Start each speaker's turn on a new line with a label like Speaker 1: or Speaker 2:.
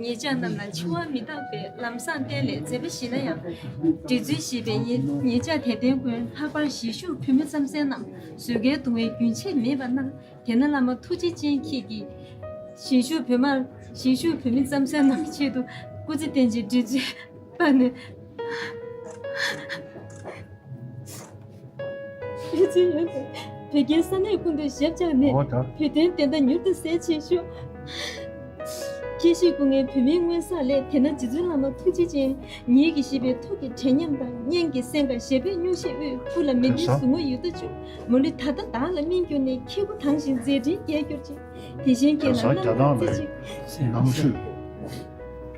Speaker 1: ངེད་ཅག་རྣམས་ལ་འཆི་བ་མི་རྟག་པའི་ལམ་བཟང་གཏན་ལས་མཛད་པ་ཞིག་ན་ཡང། འབྲི་ཚུལ་ཤེས་པའི་ངེད་ཅག་དད་ལྡན་ཀུན་ལྷག་པར་གཞིས་བཞུགས་བུད་མེད་རྩམ་ཟན་རྣམས་བཟོད་དཀའི་གདུང་བས་རྒྱུན་ཆད་མེད་པར་གནང། དེ་ན་བླ་མ་ཐུགས་རྗེ་ཅན་ཁྱེད་ཀྱིས། གཞིས་བཞུགས་བུད་མེད་རྩམ་ཟན་རྣམས་ཀྱི་ཆེད་དུ་སྐུ་ཚེ་བརྟན་ཅིང་འབྲི་ཚུལ་སྤར་ནས། ཕན་ཚུན་ཡོད་པའི་བོད་རྒྱའི་ས་གནས་ཀུན་ཏུ་ཞབས་བཅགས་ནས་བོད་དོན་བདེན་མཐའ་མྱུར་དུ་གསལ་བྱེད་ཤོག།
Speaker 2: ཁྱེད་ཤེས་སྐུ་ངལ་བོད་མིའི་སྔོན་བསགས་ལས་དེ་ན་རྗེ་བཙུན་བླ་མ་ཐུགས་རྗེ་ཅན་ཉིད་ཀྱི་ཞི་བའི་ཐུགས་ཀྱི་དྲན་ཉམས་དང་སྙན་གྱི་སེམས་དགའ་ཞལ་འབེབས་སྙུང་གཞིས་དབུས་བཀུར་ལ་མི་འདི་ཟུག་ངུ་ཡུ་ཏ་ཅུ་མོ་ལི་ད་ལྟ་བདག་ལ་སྨིན་གྱུར་ནས་ཁྱེད་སྐུ་ཐང་ཞིང་མཛད་འཕྲིན་རྒྱས་གྱུར་ཅིག་དེ་བཞིན་ཁྱེད་ལ་རྣམ་དག་རྩེ་གཅིག།